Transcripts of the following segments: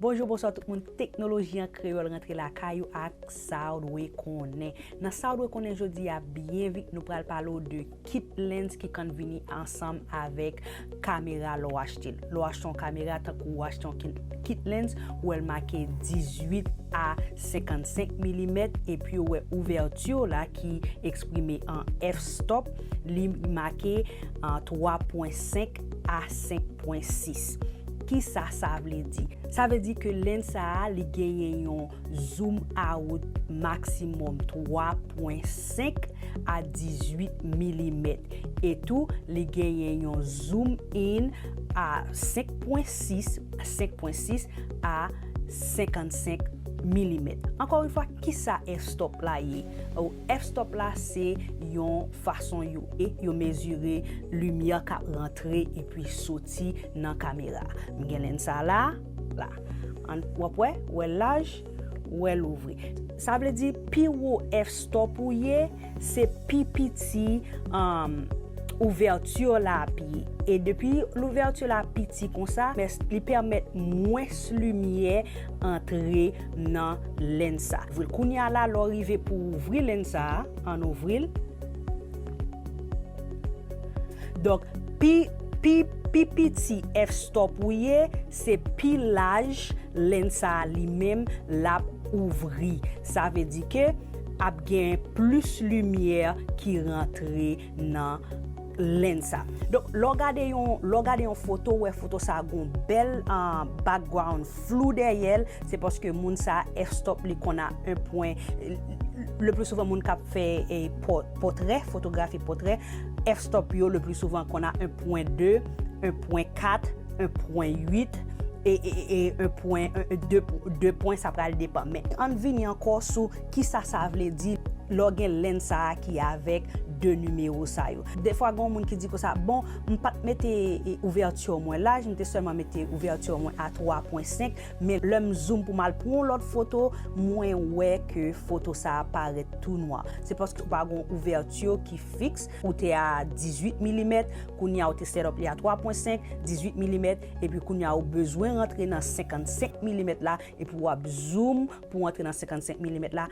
Bonjou bonswa tout moun teknoloji an kreyòl rantre lakay ou ak sa ou dwe konnen nan sa ou dwe konnen jodi a byen vit nou pral pale ou de. kit lens ki kan vini ansanm avèk kamera lè w achte l. Lè w achte yon kamera tankou ou achte yon kit lens, ou wè l make 18 a 55 milimèt epi ou wè ouvèti w la ki eksprime an f-stop li make 3 pwen 5 a 5 pwen 6. Kisa sa vle di? Sa vle di ke lens sa a li genyen yon Zoom a wout maksimòm 3.5 a 18 milimèt e tou li genyen yon zoom in a 5.6 5.6 a 55 milimèt. Ankò yon fwa, kisa f-stop la ye? F-stop la se yon fason yo e yo mezire limyè k ap rantre epi soti nan kamera. M gen lenn sa la. la an wap wè ou el laj ou el ouvri sa vle di pi wo F stop ou ye se pi piti ouverture la ap ye e depi l'ouverture la piti konsa li pèmèt mwens limyè antre nan lens sa kounya la lè w rive pou w ouvri lens sa an ouvri l donk pi Pi pi piti F stop ou ye se pi laj len sa a li menm lap ouvri sa vle di ke ap gen plis limyè ki rantre nan len sa donk lè w gade yon lè w gade yon foto ou wè foto sa a gon bèl background flou dèyè l se paske moun sa a F stop li konn a 1 pwen le pli souvan moun kap fè pòtrè fotografi pòtrè F stop yo le pli souvan konn a 1.2, 1.4, 1.8 e 2 pwen sa pral depan. Men ann vini ankò sou kisa sa vle di lè w gen lenn sa a ki avèk 2 nimewo sa yo. Defwa gen yon moun ki di konsa, bon m pat mete ouvèti mwen laj, m te sèlman mete ouvèti mwen a 3.5. Men lèm zoom pou mal pran yon lòt foto mwen wè ke foto sa parèt tou nwa. Se paske ou pa gen yon ouverture ki fiks, ou te a 18 milimèt, kounya ou te set up li a 3 pwen 5, 18 milimèt, epi kounya ou bezwen rantre nan 55 milimèt la, epi wap zoom pou antre nan 55 milimèt la,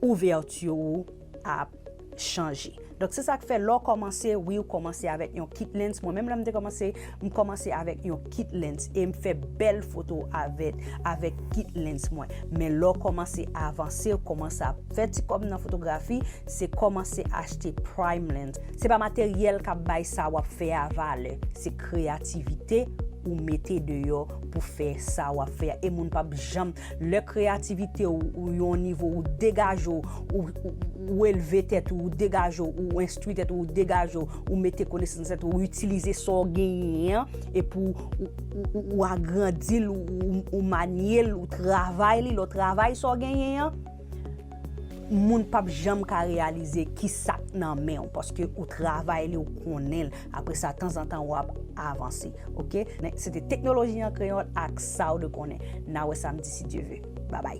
ouvèti ou ap chanje. Donk se sa k fè lè w kòmanse, wi ou kòmanse avèk yon kit lens. Mwen menm lè m te kòmanse, m kòmanse avèk yon kit lens e m fè bèl foto avèk kit lens mwen. Men lè w kòmanse avanse, ou kòmanse ap fè ti kòb nan fotografi, se kòmanse achte prime lens. Se pa materyèl k ap bay sa w ap fè a valè, se kreyativite ou mete deyò pou fè sa w ap fè a. E moun p ap janm, Lè kreyativite w ou yon nivo ou degaje w, ou elve tèt ou, ou degaje w, ou enstwi tèt ou, ou degaje w, ou mete konesans nan tèt ou, ou itilize sa w genyen an epi ou agrandi l, ou manye l, ou travay li, lè w travay sa w genyen an, moun pap janm ka reyalize ki sak nan men ou paske ou travay li ou konnen l apre sa tanzantan ou ap avanse ok se te teknoloji an kreyòl ak sa ou dwe konnen na wè samdi si Dye ve babay.